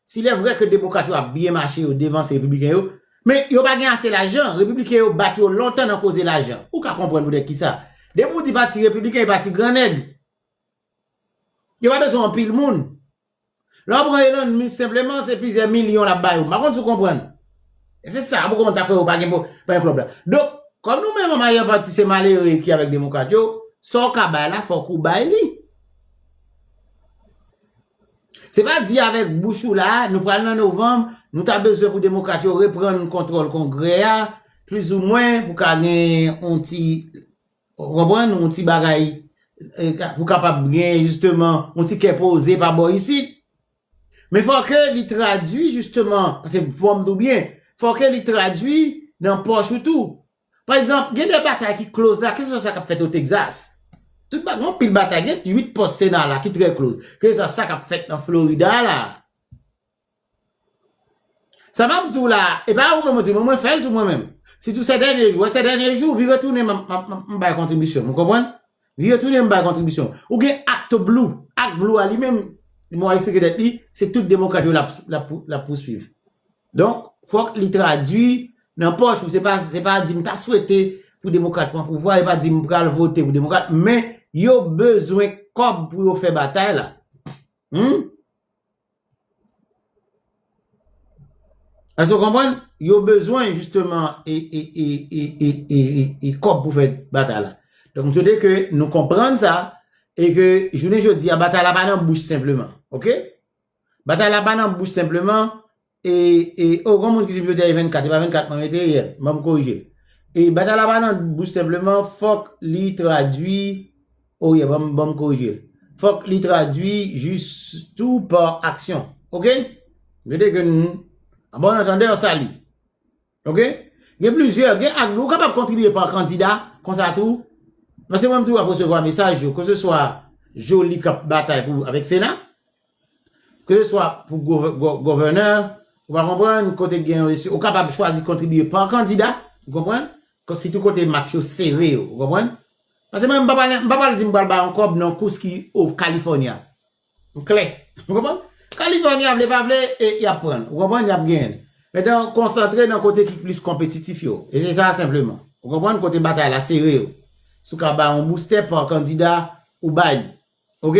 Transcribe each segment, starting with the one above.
Si lè vrè ke demokrat yo ap byen mache yo devanse repibliken yo, men yo pa gen ase lajan, repibliken yo bat yo lontan nan koze lajan. Ou ka konprann poutèt kisa. Depi ou di pati repibliken e pati gran nèg. Yo pa bezwen anpil moun. Lè ou pran Elon Musk senpleman se plizyè milyon lap ba yo. M pa konn si ou konprann. E se sa, pou kòman ta fè yo pa gen pou pa gen klòb la. Donk, kòm nou menm an mayè pati se malere ki avèk demokrat yo, sa ou ka bay la fòk ou bay li. Se pa di avèk bouch ou la, nou pral nan novanm, nou ta bezwen pou demokrat yo reprann kontwòl kongrè a, plizoumwen pou ka gen yon ti, ou konprann, yon ti bagay, pou kapab gen jisteman yon ti kè poze pa bò isit. Men fò ke li tradui jisteman, pase fòm tou byen, fò ke li tradui nan pòch ou tou, Pa egzanp, gen de batay ki kloz la, keseswa sa k ap fèt o Tegzas. Tout ba, gen yon pil batay, gen 8 pòs Sena la ki trè kloz. Keseswa sa k ap fèt nan Florida la. Sa m ap di w la, e pa ou menm ou di, men mwen fè l tou mwen menm. Sitou sè dènye jou, wè sè dènye jou, vire tounen m ap, m ap bay kontribisyon m, ou konprann? Vire tounen m bay kontribisyon m. Ou gen ActBlue, ActBlue a li menm, li menm ap esplike tèt li, se tout Demokrat yo l ap, l ap, l ap pouswiv. Donk, fòk li tradui nan pòch ou. Se pa, se pa di m ta swete pou demokrat pran pouvwa, e pa di m pral vote pou demokrat, men yo bezwen kòb pou yo fè batay la. Humm. Èske w konprann? Yo bezwen jisteman e, e, e, e, e, e, e, e kòb pou fè batay la. Donk, m swete ke nou konprann sa, e ke jounen jodi a batay la pa nan bouch senpleman. Ok? Batay la pa nan bouch senpleman, e, e, o, gon moun ki di pito te 24, e pa 24 mwen mete, yè, ban m korije. E, batay la pa nan bouch senpleman, fòk li tradui, o, yè, ban m, ban m korije. Fòk li tradui jis tou pa aksyon. Ok? Mete ke n, a bon antandè, sa li. Ok? Gen plizyè, gen ak, ou kapab kontribye pa kandida, konsa tou, paske mwen m toujou ap resevwa mesaj yo, keseswa Joly k ap batay pou, avèk Sena. Ke swa pou gòvènè, ou pa konprann, kote gen yon eleksyon, ou kapab chwazi kontribye pa kandida, ou konprann, sitou kote match yo sere yo, ou konprann. Pase mwen, m pa pale, m pa pale di m pral bay yon kòb nan kous ki o California. M klè, ou konprann. California vle pa vle, y ap pran l, ou konprann, y ap genyen l. Etan, konsantre nan kote ki plis konpetitif yo. E se sa senpleman. Ou konprann, kote batay la sere yo. Si w ka bay yon boustè pa kandida, ou bay li. Ok?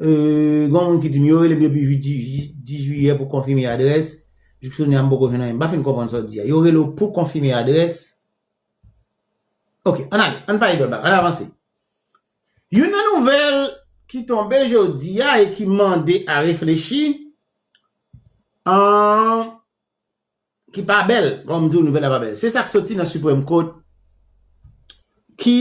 Gon moun ki di m yo rele m depi 8 jiyè pou konfime adrès, jouk jounen an m poko jwenn anyen. M pa fin konprann sa w di a. Yo rele w pou konfime adrès? Ok, ann ale, ann pale dòt bagay, ann avanse. Youn nan nouvèl ki tonbe jodi a e ki mande a reflechi, ki pa bèl, bon m di w nouvèl la pa bèl, se sa k soti nan Supreme Court ki,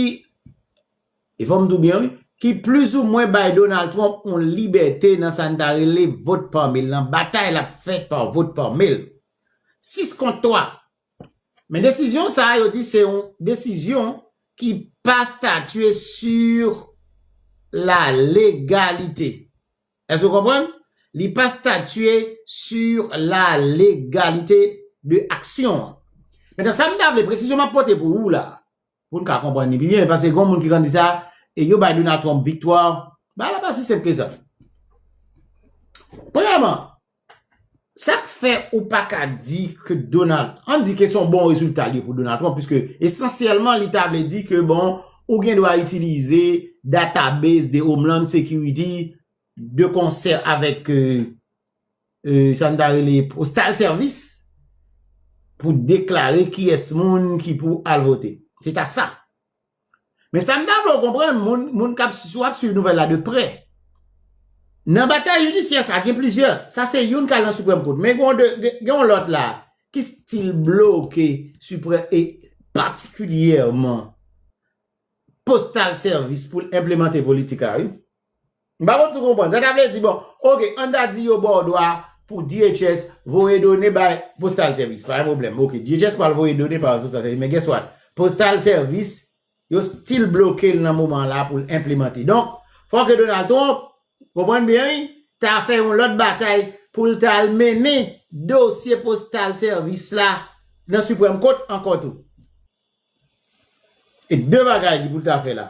e fò m di w byen wi, ki plizoumwen bay Donald Trump yon libète nan sa n ta rele vote par mail lan, batay l ap fè par vote par mail. 6 kont 3. Men desizyon sa a yo di se yon desizyon ki pa statye sur la legalite. Èske w konprann? Li pa statye sur la légalité de action an. Mentnan sa m ta vle, presizyon m ap pote pou ou la, pou n ka konprann li pi byen, paske gon moun ki konn di sa, yo bay Donald Trump viktwa, bagay la pa si senp ke sa. Premyèman, Sa k fè ou pa ka di ke Donald, an n di ke se yon bon rezilta li pou Donald Trump, piske esansyèlman li ta vle di ke bon, ou gen dwa itilize database de Homeland Security de konsè avèk sa n ta rele postal service pou deklare kiyès moun ki pou al vote. Se ta sa. Men sa m ta vle w konprann, moun k ap swiv nouvèl la de prè, nan batay jidisyè sa gen plizyè, sa se youn k al nan Siprèm Kou, men gen yon lòt la ki stil bloke Siprèm e patikilyèman postal sèvis pou l enplemante politik la wi. M pa konn si w konprann. Sa ta vle di bon, ok, an ta di yo ba w dwa pou DHS voye done bay Postal Service. Pa gen pwoblèm. Ok, DHS pral voye done bay Postal Service. Men guess what? Postal Service, yo still bloke l nan moman an la pou l enplemante. Donk, fò ke Donald Trump, konprann byen wi, ta fè yon lòt batay pou l ta al mennen dosye Postal Service la nan Supreme Court ankò tou. E de bagay li pou l ta fè la.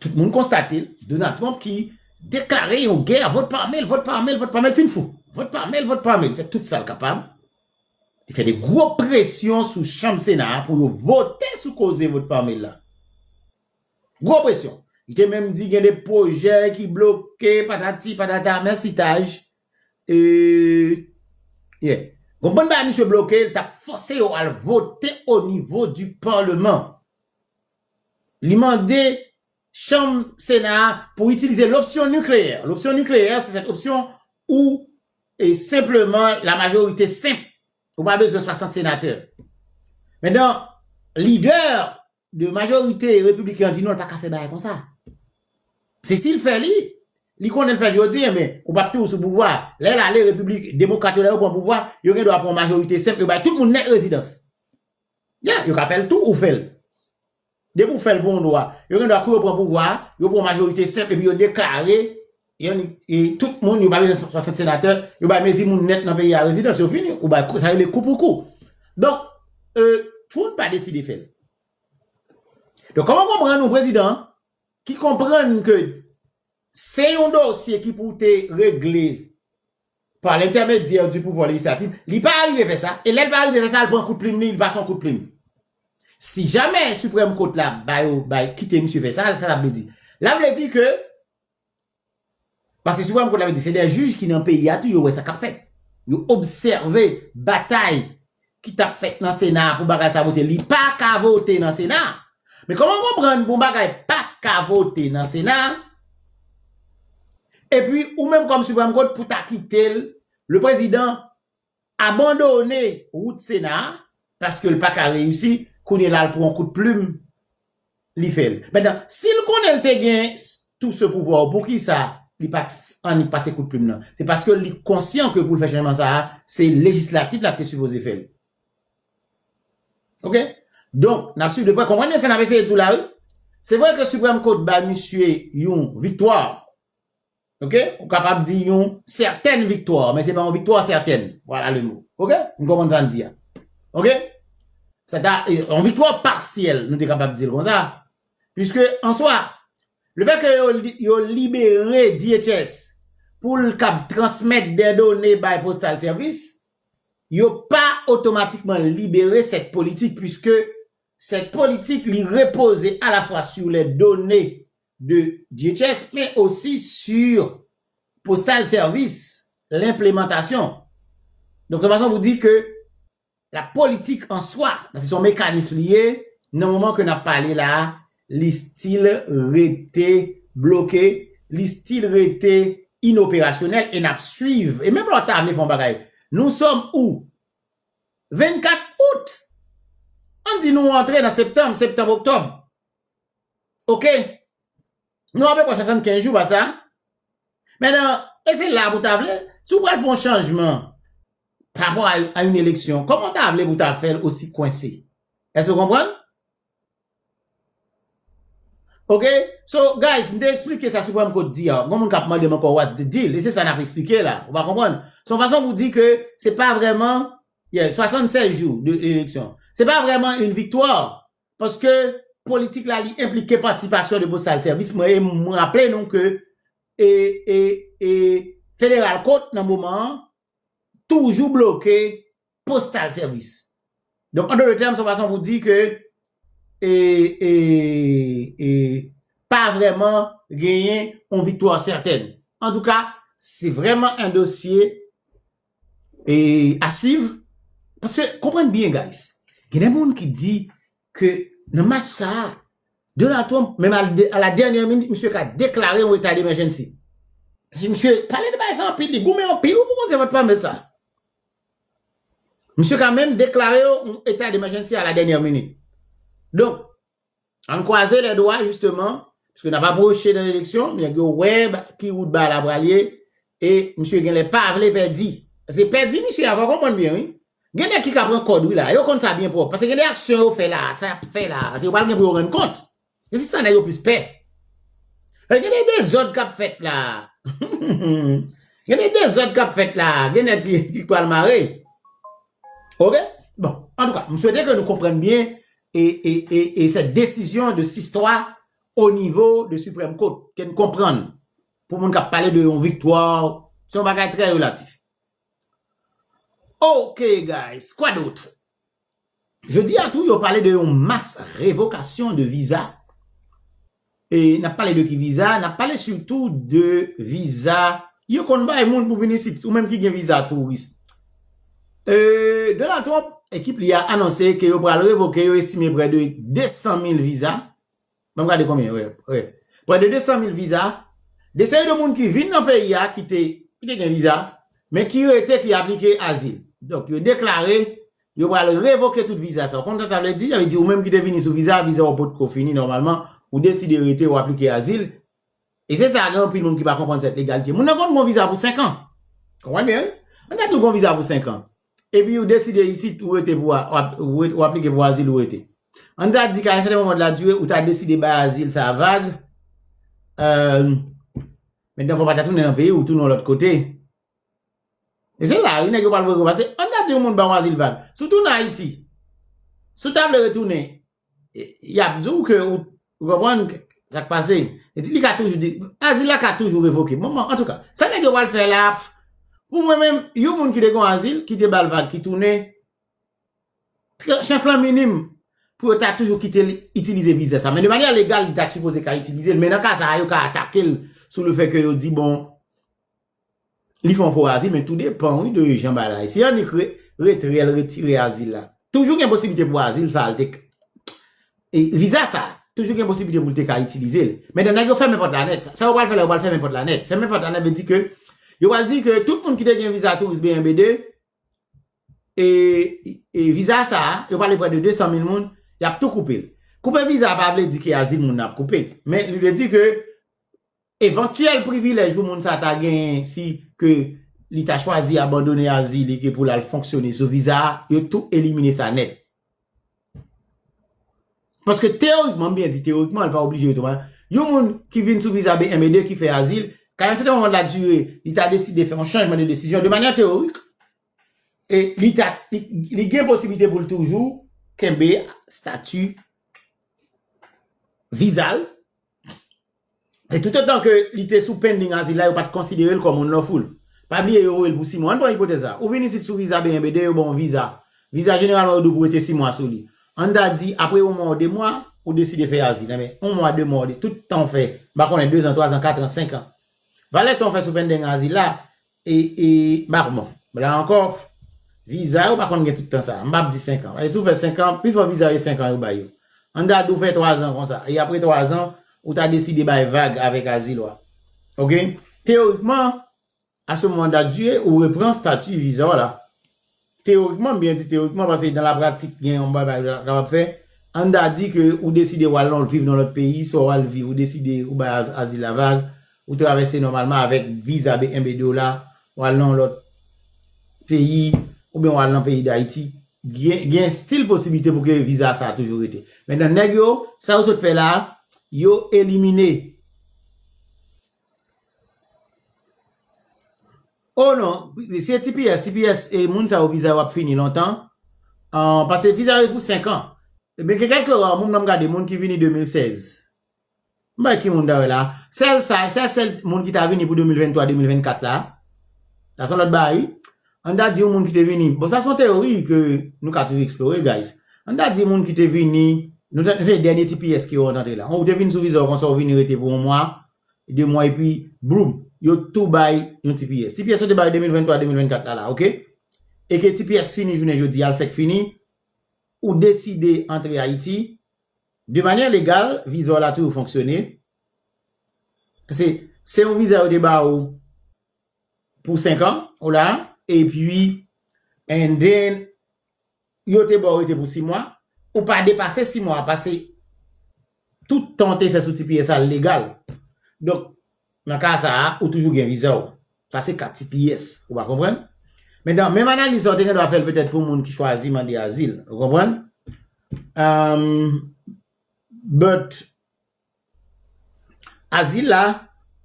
Tout moun konstate l, Donald Trump ki deklare yon gè, vòt pa mèl, vòt pa mèl, vòt pa mèl, fin fou. Vòt pa mèl, vòt pa mèl, li fè tout sa l kapab. Li fè de gwo presyon sou chanm sena a pou yo vote sou koze vòt pa mèl la. Gwo presyon. Li te menm di gen de pwojè ki bloke patati patata, mèsi Taj. Gon bann bagay misye bloke, li t ap fòse yo al vote onivo di paleman. Li mande chanm Sena a pou itilize lopsyon nikleyè. Lopsyon nikleyè se sèt opsyon ou e senpleman la majorite senp. Ou pa bezwen 60 senatè. Men dan lidè de majorite republiken an di non l pa ka fè bagay kon sa. Se si l fè li, li konnen l fè l jodi e men ou pap toujou sou pouvwa. Lè l ale republik demokrat yo lè yo pran pouvwa yo gen dwa pran majorite senp yo bay tout moun nèt rezidans. Yeah, yo ka fè l tou ou fè l. Depi ou fè l pou yon dwa, yo gen dwa kou yo pran pouvwa a, yo pran yon majorite senp epi yo deklare yon tout moun yo pa bezwen 160 senatè, yo bay mezi moun nèt nan peyi a rezidans, yo fini, ou bay sa rele kou pou kou. Donk, Trump pa deside fè l. Donk, kòman w konprann yon prezidan ki konprann ke se yon dosye ki pou te regle pa lentèmedyè di pouvwa lejislatif, li pa arive fè sa, e lè l pa arive fè sa, l pran kout plim li, li pa son kout plim. Si jamè Siprèm Kot la ba yo, ba yo, kite misye fè sa, sa sa vle di? La vle di ke, paske Siprèm Kot la vle di se dè jij ki nan peyi a tou, yo wè sa k ap fèt. Yo obsève batay ki tap fèt nan sena a pou bagay sa vote li pa ka vote nan sena a men kòman konprann pou yon bagay pa ka vote nan sena a epi ou menm kòm siprèm kot pou ta kite l le prezidan abandone wout sena a paske l pa ka reyisi kounye la l pran yon kout plim li fè l. Maintenant, si l konnen l te gen tout ce pouvoir ou poukisa li pa t annik pase kout plim nan? Se paske li konsyan ke pou l fè chanjman sa a, se lejislatif la ki te sipoze fè l. Ok? Donk, n ap swiv de prè. Konprann byen sa n ap eseye di w la wi. Se vre ke Supreme Court bay misye yon viktwa. Ok ou kapab di yon certaine victoire men se pa yon victoire certaine voilà le mot ok nou konprann sa n di a ok se ta yon victoire partielle nou te kapab di l kon sa puisque en soi le fait que yo yo libéré DHS pou l kab transmettre des données bay postal service yo pa automatiquement libéré cette politique puisque cette politique li repose à la fois sur les données de DHS men osi sur postal sèvis lenplemantasyon. Donk se fason pou di ke la politik an swa, se son mekanism li ye, nan moman ke nap pale la, li stil rete bloke, li stil rete inoperasyonèl e nap swiv. E menm lò ta vle fon bagay, nou sòm ou? 24 out! An di nou antre nan septanm, septanm-oktòb. Ok Nou ape pwa 75 jou pa sa Men nan E se la pou ta vle Si w pral fon chanjman Pa pou a yon eleksyon Koman ta vle pou ta fèl osi kwense Eske w konprann Ok So guys m te eksplike sa Supreme Court di a Gon moun kap mande m anko what's the deal E se sa nap eksplike la Ou pa konprann Se yon fason pou di ke Se pa vreman Yeah 76 jou de eleksyon Se pa vreman yon viktwa Paske politik la li enplike patisipasyon de postal sèvis mwen e mwen raple nou ke e e e federal kot nan moman an toujou bloke postal sèvis. Donk an dotre tèm son fason pou di ke e e e pa vreman genyen yon viktwa sètèn. Antouka se vreman yon dosye Eee a swiv, paske konprann byen guys, gen de moun ki di ke nan match sa a, Donald Trump menm a la dènyè minit misye ka deklare yon eta demèjènsi. Paske misye pale de bagay sa anpil, li goumen anpil, ou pou panse vant pamèt sa. Misye ka menm deklare yon eta demèjènsi a la dènyè minit. Donk. Ann kwaze lè dwa jisteman, pske nap apwoche nan eleksyon, nèg yo wè ki wout bal la pral ye, e misye genlè pa vle pèdi. Pase pèdi misye a, fò w konprann byen wi. Gen nèg ki ka pran kòd wi la a, yo konn sa byen pwòp. Pase gen de aksyon yo fè la a, sa yap fè la a, se yo pral gen pou yo rann kont. E se sa nèg yo plis pè. E gen de dezòd kap fèt la a. Gen de dezòd kap fèt la a, gen nèg ki pral mare. Ok, bon, antouka, m swete ke nou konprann byen e sè desizyon de sistwa o nivo de siprèm kot ke n konprann pou moun k ap pale de yon viktwa se yon bagay trè relatif. Ok guys quoi d'autre? Jodi a tou yo pale de yon mas revokasyon de viza N ap pale de ki viza? N ap pale sitou de viza yo konn bay moun pou vin isit, ou menm ki gen viza touris. Donald Trump, ekip li a anonse ke yo pral revoke, yo estime prè de 200 mil viza, banm gade konbyen, wè, prè de 200 mil viza, de seri de moun ki vin nan peyi a, ki te gen viza, men ki rete, ki aplike azil. Donk yo deklare Yo pral revoke tout viza sa. Ou konn sa sa vle di? Sa vle di ou menm ki te vini sou viza, viza ou potko fini nòmalman, ou deside rete, ou aplike azil. E se sa gen anpil moun ki pa konprann sèt legalite. Moun nan konn gon viza pou 5 an. Konprann byen wi? Moun nan tou gon viza pou 5 an. E pi ou deside isit ou rete pou ou aplike pou azil ou rete. An ta di ka yon sèten moman de la dire ou ta deside bay azil sa vag. Mèt nan fò pa ta tounen nan peyi ou tounen yon lòt kote. E se la wi nèg yo pral voye konpa se an dat yon moun ba w azil vag si w tounen ayiti si w ta vle retounen yap di w ke ou konprann sak pase li ka toujou di azil la ka toujou revoke bon antouka sa nèg yo pral fè la pou mwen menm yon moun ki te gon azil ki te ba l vag ki tounen chans lan minim pou yo ta toujou kite l itilize viza sa men de manyè legal li ta sipoze ka itilize l men nan ka sa a yo ka atake l sou le fè ke yo di bon. Li fè yon fo azil men tou depan wi de jan bagay la ye. Si Annik retre l retire azil la toujou gen posiblite pou azil sa l te ka viza sa toujou gen posiblite pou l te ka itilize l. Medan nèg yo fèmen pòt la nèt sa yo pral fè la yo pral fèmen pòt la nèt fèmen pòt la nèt vle di ke yo pral di ke tout moun ki te gen viza touris BNB2 e viza sa yo pale prè de 200 mil moun y ap tou koupe l. Koupe viza pa vle di ke azil moun nan ap koupe men li vle di ke Evantyèl privilèj pou moun sa ta genyen si ke li ta chwazi abandone azil li ke pou l al fonksyone sou viza a, yo tou elimine sa nèt. Paske teyorikman, m byen di teyorikman, li pa oblije otomatik, yon moun ki vin sou viza BMED ki fè azil, ka yon sèten moman nan diri, li ta deside fè yon chanjman de desizyon, de manyan teyorik, e li ta, li gen posibilite pou l toujou kenbe stati viza l. E tout otan ke li te sou pending azil la, yo pat konsidere l kòm unlawful. Pa bliye yo voye l pou 6 mwa. Ann pran ipotèz la. Ou vin isit sou viza BNBD, yo ba w yon viza. Viza jeneralman yo di w pou rete 6 mwa sou li. Ann ta di, apre yon mwa ou 2 mwa, ou deside fè azil. Enben, yon mwa, 2 mwa, tout tan ou fè, m pa konnen, 2 zan, 3 zan, 4 an, 5 an. Valè tan ou fè sou pending azil la, E e m pa konprann. La ankò, viza yo pa konn gen tout tan sa a. M pap di 5 an. Paske si w fè 5 an, pifò viza yo se 5 an yo bay yo. An gade ou fè 3 zan konsa. E apre 3 zan, ou ta deside bay vag avèk azil ou a. Ok? Teyorikman, a ce moment là, ou repran stati viza w la. Teyorikman, m byen di teyorikman paske dan la pratik gen yon babay ou kapab fè, ann ta di ke ou deside wal nan viv nan lòt peyi, swa wal viv ou deside ou bay azil la vag, ou travèse nòmalman avèk viza BMBD w la, wal nan yon lòt peyi, oubyen wal nan peyi Dayiti, gen stil posiblite pou ke viza sa toujou rete. Mentnan nèg yo, sa yo sot fè la, yo elimine. Oh non, se tps, tps e moun sa yo viza yo ap fini lontan, pase viza yo pou 5 an, men gen kèlke rare moun banm gade moun ki vini 2016, m pa wè ki moun ta wè la, sèl sa, sa sèl moun ki ta vini pou 2023, 2024 la, sa son lòt bagay wi, an ta di yon moun ki te vini, bon sa son teori ke nou ka toujou eksplore guys, an ta di moun ki te vini, nou se dènye tps ke yo antre la, ou te vini sou viza w konsa ou vini rete pou yon mwa, 2 mwa epi bloum yo tou bay yon ti pyès. Ti pyès yo te bay 2023-2024 la la ok. E ke ti pyès fini jounen jodi a l fèk fini, ou deside antre Ayiti, de manyè legal viza w la toujou fonksyone, pase se yon viza yo te ba ou pou 5 an ou la, epi and then. yo te ba w rete pou 6 mwa, ou pa depase 6 mwa a pase tout tan w te fè sou tps a legal. Donk, nan ka sa a, ou toujou gen viza w. Sa se ka tps, ou va konprann? Mentan, menm analiz sa a ou te gen dwa fè l petèt pou moun ki chwazi mande azil, ou konprann? Ahm, but, Azil la,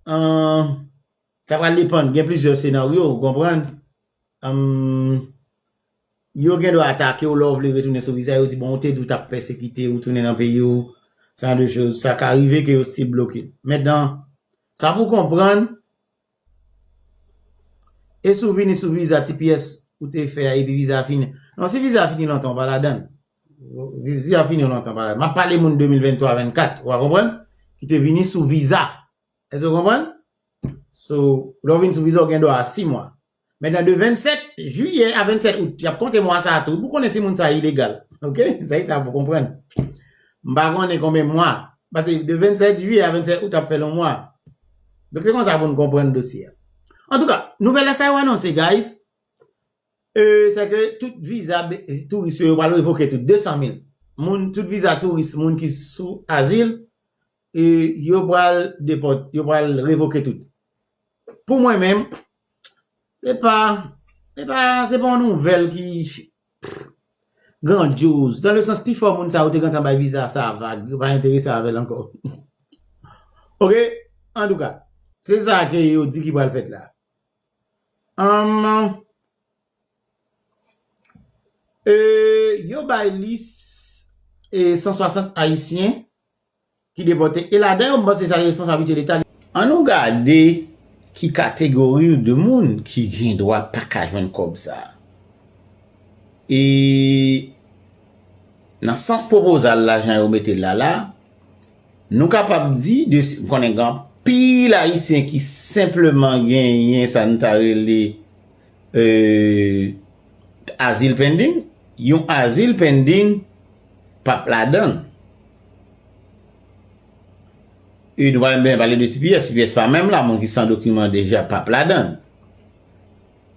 sa pral depan, gen plizyè senaryo ou konprann, yo gen dwa atake ou lè ou vle retounen sou viza, yo di bon ou te di ou t ap pèsekite ou tounen nan peyi ou, sa ka rive ke yo still bloke. Mèt nan, sa pou konprann, E si w vini sou viza tps ou te fè a epi viza a fini? Non, si viza a fini lontan ou pa ladan. Viza a fini lontan ou pa ladan. M ap pale moun 2023, 24, ou a konprann? Ki te vini sou viza. Èske ou konprann? So, lè ou vini sou viza ou gen dwa a 6 mwa. Men nan de 27 jiyè a 27 out yap konte mwa sa tou pou konnen si moun sa ilegal ok se sa pou konprann m pa konnen konbyen mwa pase de 27 jiyè a 27 out ap fè lon mwa dok se kon sa pou nou konprann dosye antouka nouvèl la sa yo anonse guys e se ke tout viza touris yo yo pral revoke tout 200 mil moun tout viza touris moun ki sou azil Yo pral depot, yo pral revoke tout. Pou mwen menm, se pa, se pa, se pa yon nouvèl ki grandyoz. Dan le sans pi fò moun sa yo te gentan bay viza sa vag, yo pa enterese avè l ankò. Ok, an tou ka, se sa ke yo di ki pral fèt la. Humm. E yo bay lis 160 ayisyen ki depòte e ladan yo m panse sa se responsablite leta li. An nou gade ki kategori de moun ki gen dwa pa ka jwenn kòb sa. E nan sans pwopozal la jan yo mete l la la, nou kapab di de m konnen gen anpil ayisyen ki senpleman genyen sa nou ta rele. Azil pending? Yon azil pending pa p ladan. E nou pa menm bezwen pale de tps. Tps pa menm la. Moun ki san dokiman deja pa p ladan.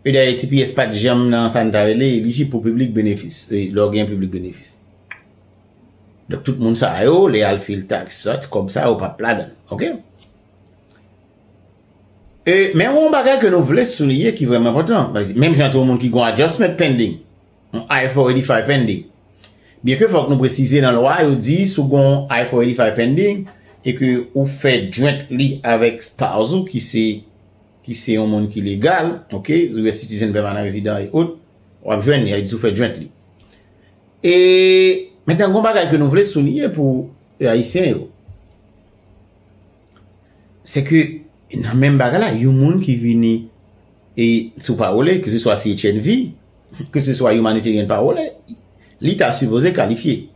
E dayè tps pa t janm nan sa n ta rele elijib pou piblik benefis. E lè w gen piblik benefis. Donk tout moun sa yo, lè y al fil taks, sot, kòb sa yo pa p ladan. Ok? E men yon bagay ke nou vle souliye ki vreman enpotan. Menm jan tou moun ki gon adjustment pending. Yon I-485 pending. Byen ke fok nou presize nan lwa yo di sou gon I-485 pending e ke ou fe joint li avek spouse ou ki se ki se yon moun ki legal, ok, US citizen, permanent resident e ot, wap jwenn li, a di sou fe joint li. E men tan gon bagay ke nou vle souliye pou Ayisyen yo. Se ke nan menm bagay la, yon moun ki vini e sou pawole, ke se swa CHNV, ke se swa Humanitarian Pawole, li ta sipoze kalifye.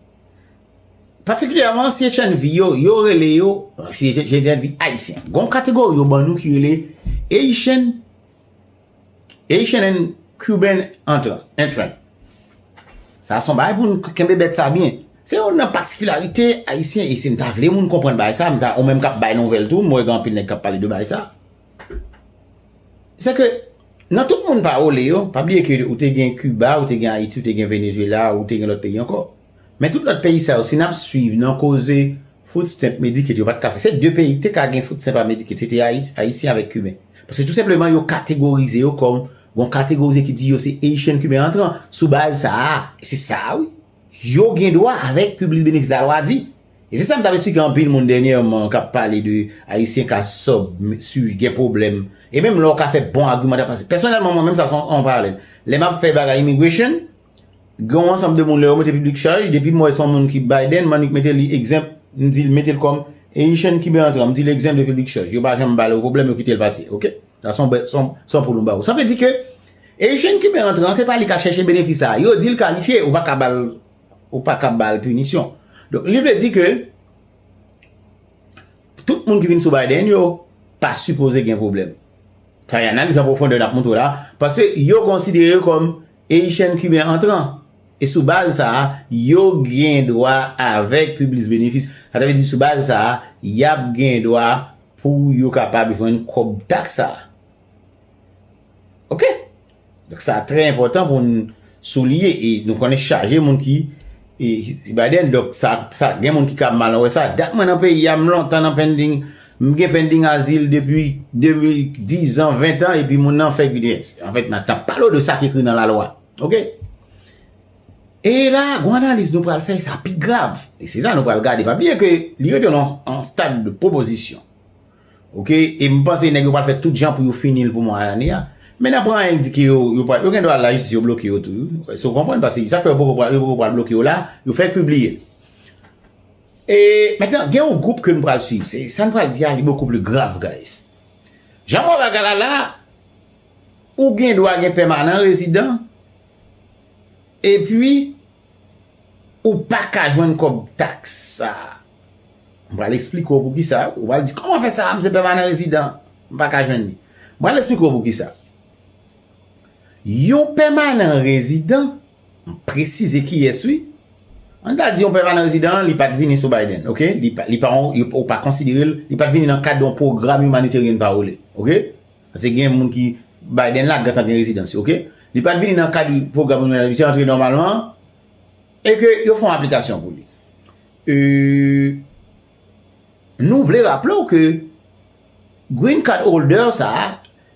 Patikilyèman CHNV yo, yo rele yo, CHNV Ayisyen. Gon kategori yo ban nou ki rele Haitian. Haitian and Cuban entrant. Sa son bay pou nou kenbe bet sa byen. Se yon nan patikilarite ayisyen, e se m ta vle moun konprann bay sa, m ta ou menm kap bay nouvel tou, m wè gen anpil nèg kap pale de bay sa. Se ke, nan tout moun pawole yo, pa bliye ke ou te gen Cuba, ou te gen Haiti, ou te gen Venezuela, ou te gen lòt peyi ankò. Men tout lòt peyi sa yo, si nap suiv nan koze Food stamp Medicaid yo pat ka fè. Se 2 peyi ki te ka gen food stamp ak Medicaid se te Ayisyen avèk Kiben. Paske tou senpleman yo kategorize yo kòm gon kategorize ki di yo se Haitian Kiben antran. Sou baz sa a, e se sa wi, yo gen dwa avèk piblis benefis la lwa di. E se sa m tap esplike anpil moun dènyèman kap pale de Ayisyen ka sub, su, gen pwoblèm. E menm la ou ka fè bon agiman ta pase. Pèsonèlman mwen menm sa son an paralèl. Lè map fè bagay immigration. Gen yon ansanm de moun lè yo mete piblik chaj, depi m wè son moun ki Biden, m annik mete li egzanp, m di l mete l kòm Eyichen ki ben antre an, m di l egzanp de piblik chaj. Yo pa janm ba l yon pwoblèm, yo kite l pase, ok. Sa son bè, son, son pou nou ba ou. Sa vle di ke Eyichen ki ben antre an, se pa li ka chèche benefis la. Yo di l kalifye, ou pa ka ba l, ou pa ka ba l pinisyon. Donk, li vle di ke tout moun ki vin sou Biden yo pa sipoze gen pwoblèm. Sa y analiz an pwofondè n ap montre w la, paske yo konsidere yo kòm Eyichen Kiben antran. E sou baz sa a, yo gen dwa avèk piblis benefis. Sa ta vle di sou baz sa a, y ap gen dwa pou yo kapab jwenn kòb taks sa a. Ok. Donk sa trè enpòtan pou n souliye e nou konnen chaje moun ki. E si Biden dok sa sa gen moun ki kab mal wè sa dat mwen nan peyi a m lontan nan pending m gen pending azil depi 2010 an 20 an epi moun nan fè gidens an fèt nan tap pale w de sa ki ekri nan la lwa ok e la gou analis nou pral fè sa pi grav e se sa nou pral gade pa bliye ke li rete nan an stad de pwopozisyon Ok, e m panse nèg yo pral fè tout jan pou yo fini l pou mwa ane a. Men nan pran anyen di ke yo, yo pral, yo gen dwa al la jistis yo bloke yo tou. Èske ou konprann? Pase sa k fè yo poko pral, yo poko pral bloke yo la, yo fèk pibliye. E, mètenan, gen yon gwoup ke nou pral swiv. Se, sa n pral di a li bokou pli grav, guys. Jan m wè bagay la la, ou gen dwa gen pèmanan rezidan, e pi, Ou pa ka jwenn kòb taks sa a. M pral esplike w poukisa. Ou pral di, kòman fè sa a, m se pèmanan rezidan, m pa ka jwenn li. M pral esplike w poukisa. Yon pèmanan rezidan, m presize kiyès wi. An ta di yon pèmanan rezidan an, li pa t vini sou Biden, ok? Li pa yon, yo pa konsidere l, li pa t vini nan kad yon pwogram humanitarian parole, ok? Pase gen moun ki Biden la gentan gen rezidansi ok. Li pat vini nan kad pwogram immigration li te antre nòmalman e ke yo fè yon aplikasyon pou li. E nou vle raple w ke green card holder sa a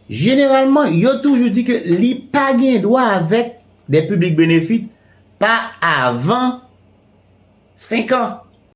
jeneralman yo toujou di ke li pa gen dwa avèk de public benefit pa avan 5 an.